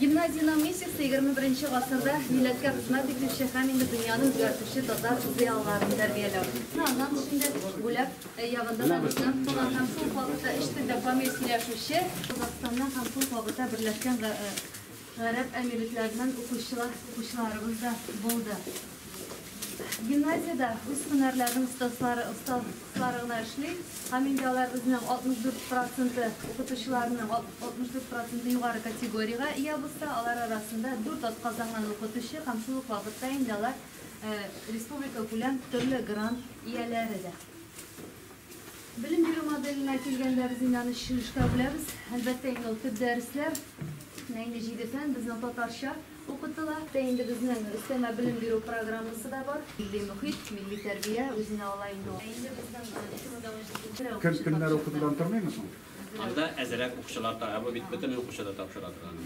Гимназиянең миссиясе 21 гасырда милләткә хезмәт итүче һәм инде дөньяны үзгәртүче татар зыялыларын тәрбияләү. Аннан шундый бүләк Ягында да безнең туган һәм шул вакытта өч телдә камил сөйләшүче Казахстаннан һәм шул вакытта Берләшкән Гарәп Әмирлекләреннән укучылар, укучыларыбыз да булды. Гимназиядә үз һөнәрләренең остазлары, остазлары гына эшли һәм инде алар үзенең 64 проценты укытучыларының 64 проценты югары категориягә ия булса, алар арасында 4 атказанган укытучы һәм шул ук вакытта инде алар республикакүләм төрле грант ияләре дә. Белем бирү моделенә килгәндә, без инде аны чишелешкә бүләбез. Әлбәттә, инде ул төп дәресләр, инде җиде фән безнең татарча укытыла. Инде безнең өстәмә белем бирү программасы да бар. Милли мөхит, милли тәрбия үзенә ала инде ул. Инде безнең чорда ун җиденче дә укучы тапшыра. Көннәр укытудан тормыймы соң? Анда әзрәк укучылар тора. Ә бу бит бөтен укучы да тапшыра торган.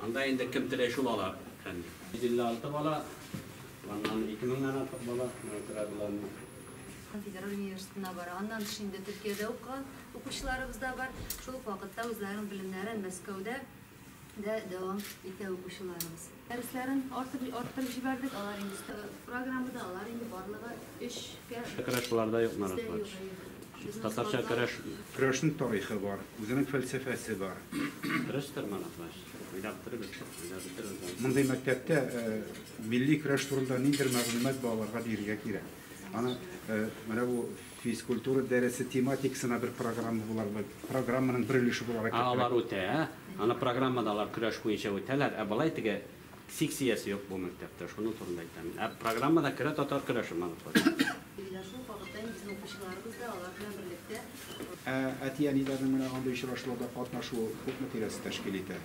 Анда инде кем теләй шул ала, әфәнде. 156 бала, аннан 2000 нан артык бала, менә тора боларның. Федераль университетына бара. Аннан тыш инде Төркиядә укыган укучыларыбыз да бар. Шул ук вакытта үзләренең белемнәрен Мәскәүдә дә дәвам итә укучыларыбыз. Дәресләрен арттырып җибәрдек, алар инде программада, алар инде барлыгы өчкә. Керәшулар да юк, наратлар. Татарча көрәш. Көрәшнең тарихы бар, үзенең фәлсәфәсе бар. Көрәш торманы, значит. Уйнап торыгыз, уйнап бетерегез аны. Мондый мәктәптә милли көрәш турында ниндидер мәгълүмат балаларга бирергә кирәк. Аны менә бу физкультура дәресе тематикасына бер программа буларак, программаның бер өлеше буларак. Алар үтә, аны программада алар көрәш буенча үтәләр. Ә болай теге Секциясе юк бу мәктәптә, шуның турында әйтәм мин. Ә программада керә татар көрәше мануфактура. Менә шул вакытта инде безнең укучыларыбыз да алар белән берлектә. Ә әти-әниләрнең менә андый очрашуларда катнашуы күпме тирәсе тәшкил итә?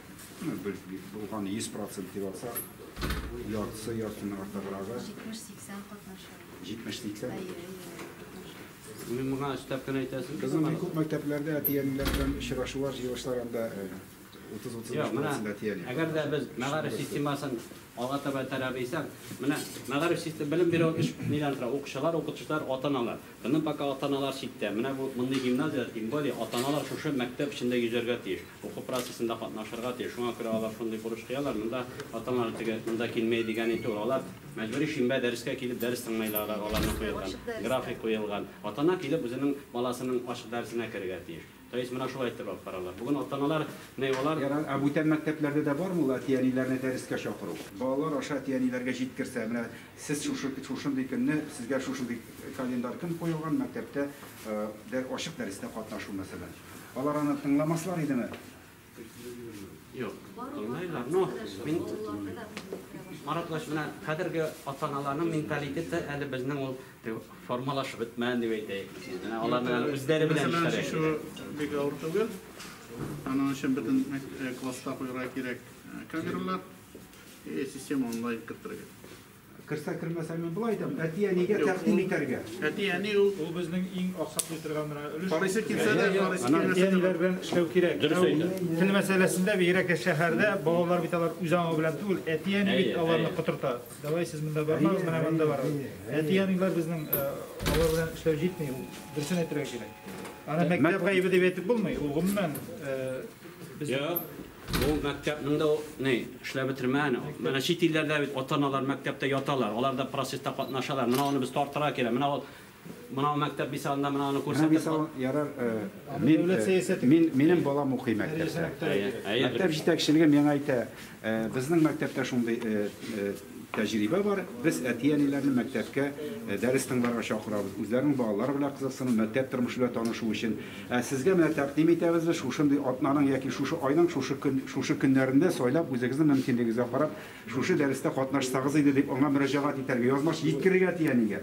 Ну, без бит булган 100 процент дип алсак, яртысы, яртының артыграгы. 70-80 катнаша. 70-80? Әйе, әйе, катнаша. Синең моңа өстәп кенә әйтәсең килмәде. Безнең күп мәктәпләрдә әти-әниләр белән очрашулар, җыелышлар анда. Әгәр дә без мәгариф системасын алга таба этәрәбез дисәң, менә мәгариф системасы белем бирү өч нидән тора? Укучылар, укытучылар, ата-аналар. Безнең пока ата-аналар читтә. Менә бу мондый гимназияләр, тем более, ата-аналар шушы мәктәп эчендә йөзәргә тиеш, уку процессында катнашырга тиеш. Шуңа күрә алар шундый бурыч куялар, монда ата-аналар теге монда килмәй дигәни түгел. Алар мәҗбүри шимбә дәрескә килеп дәрес тыңлыйлар, аларның куелган график куелган. Ата-ана килеп үзенең баласының ачык дәресенә керергә тиеш. Рәис менә шулай итеп алып баралар. Бүген ата-аналар мейвалар. Ярар, ә бүтән мәктәпләрдә дә бармы ул әти-әниләрне дәрескә чакыру? Балалар аша әти-әниләргә җиткерсә, менә сез шушы, шушындый көнне сезгә шушындый календарь көн куелган, мәктәптә, ачык дәрестә катнашу, мәсәлән. Алар аны тыңламаслар идеме? Юк, кылмыйлар. Ну, мин Маратлаш менә хәзерге ата-аналарның менталитеты әле безнең ул формалашып бетмәгән дип әйтәйек. Менә аларның әле үзләре белән эшләре. Шушы бик авыр түгел. Аның өчен бөтен класста куярга кирәк камералар. Э, система онлайн кертергә. Керсә кермәсә мин болай әйтәм, әти-әнигә тәкъдим итәргә. Әти-әни ул ул безнең иң аксаклый торган менә өлеш. Карыйсы килсә дә, карыйсы килмәсә дә. Әти-әниләр белән эшләү кирәк. Дөрес әйтә. Тел мәсьәләсендә бигрәк тә шәһәрдә балалар бит алар үз аңы белән түгел, әти-әни бит аларны котырта. Давай сез монда бармагыз, менә монда барыгыз. Әти-әниләр безнең алар белән эшләү җитми, ул дөресен әйтергә кирәк. Аны мәктәп гаебе дип әйтеп булмый, ул гомумән без Ул мәктәпнең дә ни, эшләп бетермәгән. Менә чит илләрдә бит ата-аналар мәктәптә яталар, алар да процесста катнашалар. Менә аны без тартырга кирәк. Менә ул, менә ул мәктәп мисалында менә аны Менә күрсәтеп. мисал, ярар, э, Аны мин, дәүләт э, сәясәте мин, кертә. минем балам укый Әйе, сәясәт мәктәптә. кертә кирәк. Әйе, әйе, Мәктәп белеп. җитәкчелеге миңа әйтә, э, безнең мәктәптә шундый, э, э, Тәҗрибә бар, без әти-әниләрне мәктәпкә дәрес тыңларга чакырабыз, үзләренең балалары белән кызыксыну, мәктәп тормышы белән танышу өчен. Ә сезгә менә тәкъдим итәбез, без шушындый атнаның яки шушы айның шушы көн, шушы көннәрендә сайлап, үзегезнең мөмкинлегегезгә карап, шушы дәрестә катнашсагыз иде, дип аңа мөрәҗәгать итәргә, язмача җиткерергә әти-әнигә.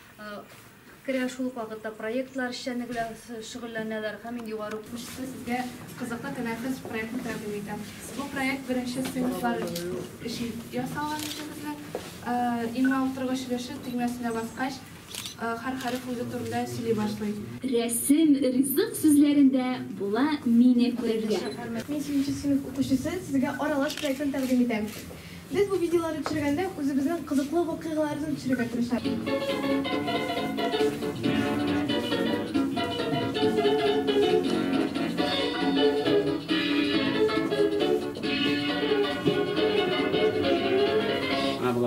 керә, шул ук вакытта проектлар эшчәнлеге белән шөгыльләнәләр һәм мин югары уку. Сезгә кызыклы тәнәфес проектын тәкъдим итәм. Бу проект беренче сыйныфлар өчен ясалган иде безнең. Имла утыргыч өлеше төймәсенә баскач, һәр хәреф үзе турында сөйли башлый. Рәсем ризык сүзләрендә була Мине күрергә. Мин сигезенче сыйныф укучысы, сезгә аралаш проектын тәкъдим итәм. Без бу видеоларны төшергәндә үзебезнең кызыклы вакыйгаларны төшерергә тырышабыз.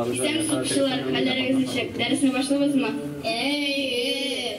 Исәнмесез, укучылар, хәлләрегез ничек? Дәресне башлыйбызмы? Әйе!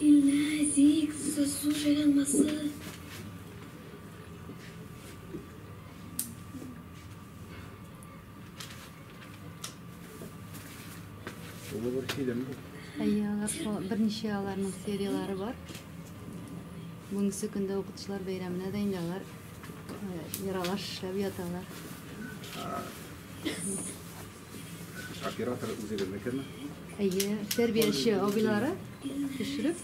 Илнәзик, сосу җайланмасы. Шулы бер фильм бу. Әйе, алар шул берничә аларның серияләре бар. Бүгенге көндә укытучылар бәйрәменә дә инде алар яралаш эшләп яталар. Оператор үзегезнекеме? Әйе, тәрбияче абыйлары төшереп,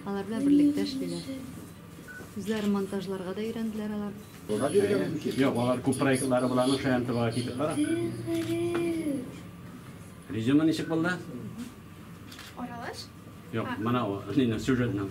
алар белән берлектә эшлиләр. Үзләре монтажларга да өйрәнделәр алар. Юк, алар күп проектлары буларның шаян тыга китеп бара. Резюме ничек булды? Аралаш? Юк, моны сюжетның.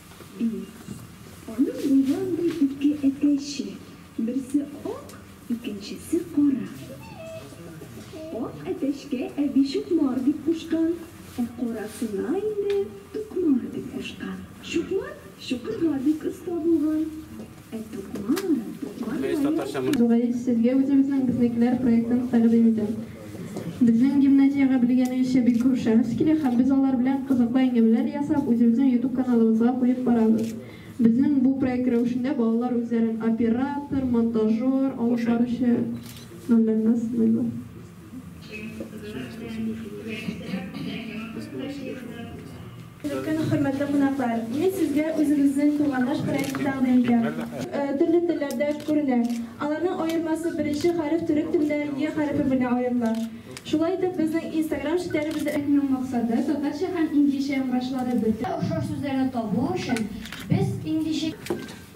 Ди. Аның булгандый ике әтәче, берсе ак, икенчесе кара. Ак әтәчкә әби Чукмар дип кушкан, ә карасына инде Тукмар дип кушкан. Чукмар чукырга бик оста булган. Тукмаев сезгә үзебезнең Безнекеләр проектын тәкъдим итәм. Безнең гимназиягә белгәнегезчә бик күп шәхес килә һәм без алар белән кызыклы әңгәмәләр ясап, үзебезнең YouTube каналыбызга куеп барабыз. Безнең бу проект рәвешендә балалар үзләрен оператор, монтажер, алып баручы рольләрендә сыйлыйлар. Көн хөрмәтле кунаклар, мин сезгә үзебезнең Тугандаш проекты тәкъдим итәм. Төрле телләрдә күренә. Аларның аермасы беренче хәреф төрек телендә е хәрефе белән аерыла. Шулай итеп, безнең инстаграм челтәребездә. Ның максаты, татарча һәм инглизчә яңгырашлары бөтен. Охшаш сүзләрне табу өчен, без инглизчә.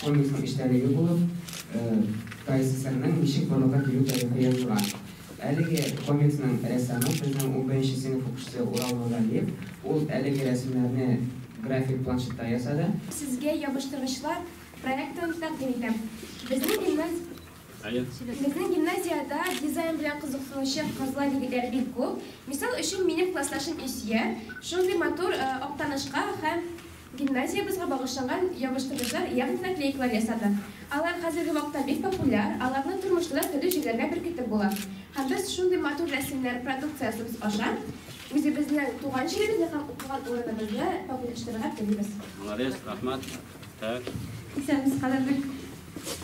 Комиксның эчтәлеге булып, ТАССРның ничек барлыкка килү тарихы язылган. Әлеге комиксның рәссамы, безнең унберенче сыйныф укучысы Урал Нургалиев. Ул әлеге рәсемнәрне график планшетта ясады. Сезгә ябыштыргычлар проектын тәкъдим итәм. Безнең гимназиядә дизайн белән кызыксынучы кызлар-егетләр бик күп. Мисал өчен, минем классташым Илсөя шундый матур Актанышка һәм Гимназиябезгә багышланган ябыштыргычлар ягъни наклейкалар ясадым. Алар хәзерге вакытта бик популяр, аларны тормышта да төрле җирләргә беркетеп була. Һәм без шундый матур рәсемнәр продукциясебез аша үзебезнең туган җиребезне һәм укыган урыныбызны популяштырырга телибез. Молодец, рахмат. Так. Исәнмесез, кадерле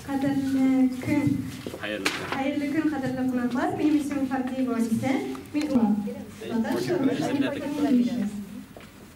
кадерле көн. Хәерле көн. Хәерле көн, кадерле кунаклар. Минем исемем Фардиева Анисә. Мин Татарча, русча,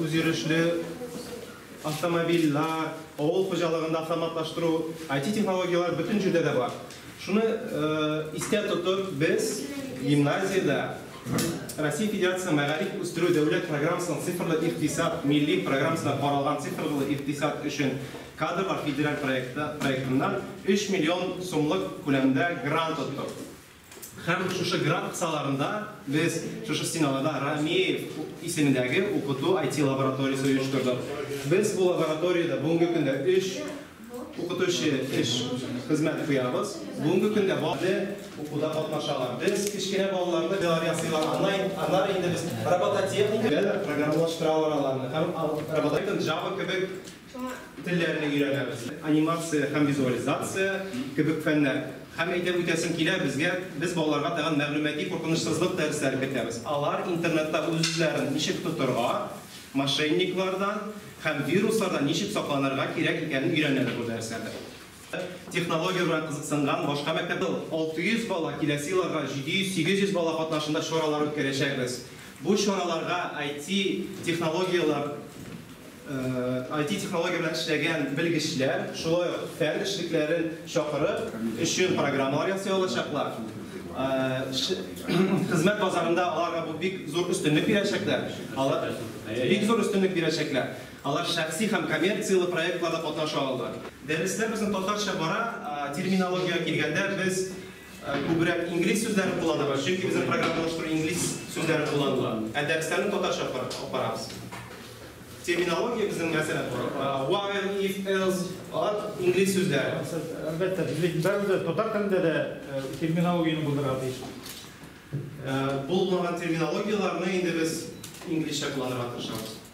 Үзйөрешле автомобильләр, авыл хуҗалыгында автоматлаштыру, IT-технологияләр бөтен җирдә дә бар. Шуны истә тотып, без гимназиядә Россия Федерациясе мәгариф үстерү дәүләт программасының Цифрлы икътисад милли программасына каралган цифрлы икътисад өчен кадрлар федераль проектыннан 3 миллион сумлык күләмдә грант оттык. Һәм шушы грант кысаларында без шушы стеналарда Рамеев исемендәге укыту IT лабораториясе оештырдык. Без бу лабораториядә бүгенге көндә өч укытучы эш, хезмәт куябыз. Бүгенге көндә балалар укуда катнашалар. Без кечкенә балаларны бияләр ясыйлар, аннан, аннары инде без робототехника, программалаштыралар аларны һәм робототехника, Java кебек Телләрне өйрәнәбез. Анимация һәм визуализация кебек фәннәр. Һәм әйтеп үтәсем килә, безгә, без балаларга тагын мәгълүмати куркынычсызлык дәресләре кертәбез. Алар интернетта үзләрен ничек тотырга, мошенниклардан һәм вируслардан ничек сакланырга кирәк икәнен өйрәнәләр бу дәресләрдә. Технология белән кызыксынган башка мәктәпләр дә бар. 600 бала, киләсе елларга 700-800 бала катнашында чаралар үткәрәчәкбез. Бу чараларга IT технологияләр, IT технология белән эшләгән белгечләр, шулай ук фән эшлекләрен чакырып, өчен программалар ясый алачаклар. Хезмәт базарында аларга бу бик зур өстенлек бирәчәкләр. Алар бик зур өстенлек бирәчәкләр. Алар шәхси һәм коммерцияле проектларда катнаша ала. Дәресләр безнең татарча бара. Терминологиягә килгәндә, без күбрәк инглиз сүзләрен кулланабыз, чөнки безнең программаны алыштыру инглиз сүзләре кулланыла. Ә дәресләрне татарча алып барабыз. Терминология безнең, мәсәлән, while, if, else, алар инглиз сүзләре. Әлбәттә, без бәребез татар телендә дә терминологияне булдырырга тиеш. Булмаган терминологияләрне инде без инглизчә кулланырга тырышабыз.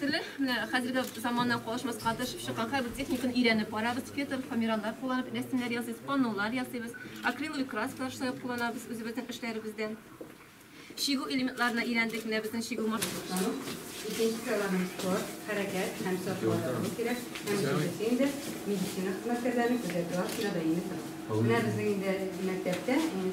Теле менә хәзерге заманнан калышмаска тырышып чыккан һәрбер техниканы өйрәнеп барабыз. Фетр, фоамираннар кулланып рәсемнәр ясыйбыз, паннолар ясыйбыз, акриловый краскалар шулай кулланабыз үзебезнең эшләребездә. Чигү элементларына өйрәндек, менә безнең чигү машинасы. Икенче сайларның спорт, хәрәкәт һәм сортларда кирәк, һәм икенчесе инде медицина хезмәткәрләрен күзәтү астында даими тора. Менә безнең инде мәктәптә, инде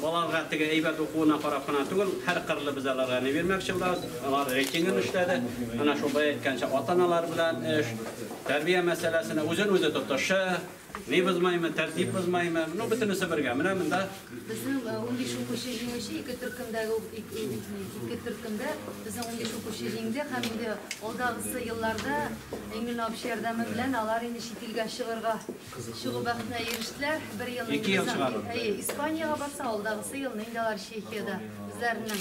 Балаларга теге әйбәт укуына карап кына түгел, һәркырлы без аларга ни бирмәкче булабыз, алар рейтингын эшләде. Менә шул бая әйткәнчә, ата-аналар белән эш, тәрбия мәсьәләсенә үзен-үзе тотышы, ни бозмаймы, тәртип бозмаймы, ну, бөтенесе бергә. Менә монда. Безнең унбиш укучы җиңүче, ике төркемдәге ике төркемдә безнең унбиш укучы җиңде һәм инде алдагысы елларда Энгель абыйчы ярдәме белән алар инде чит илгә чыгарга Чыгу бәхетенә ирештеләр. Бер ел Ике ел чыгару. Испаниягә барса, алдагысы елны инде алар Чехиядә үзләренең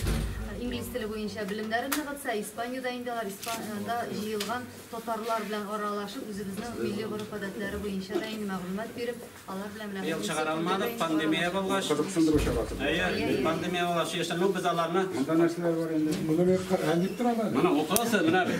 инглиз теле буенча белемнәрен ныгытса, Испаниядә инде алар Испаниядә җыелган татарлар белән аралашып, үзебезнең милли гореф-гадәтләре буенча да инде мәгълүмат биреп, алар белән белән Ел чыгара алмадык, пандемия булгач. Кызыксындыру чарасы. Әйе, пандемия булгач яшән, ну без аларны. Монда нәрсәләр бар инде? Моны бер хәл итеп тора да. Моны укыгыз, менә бит.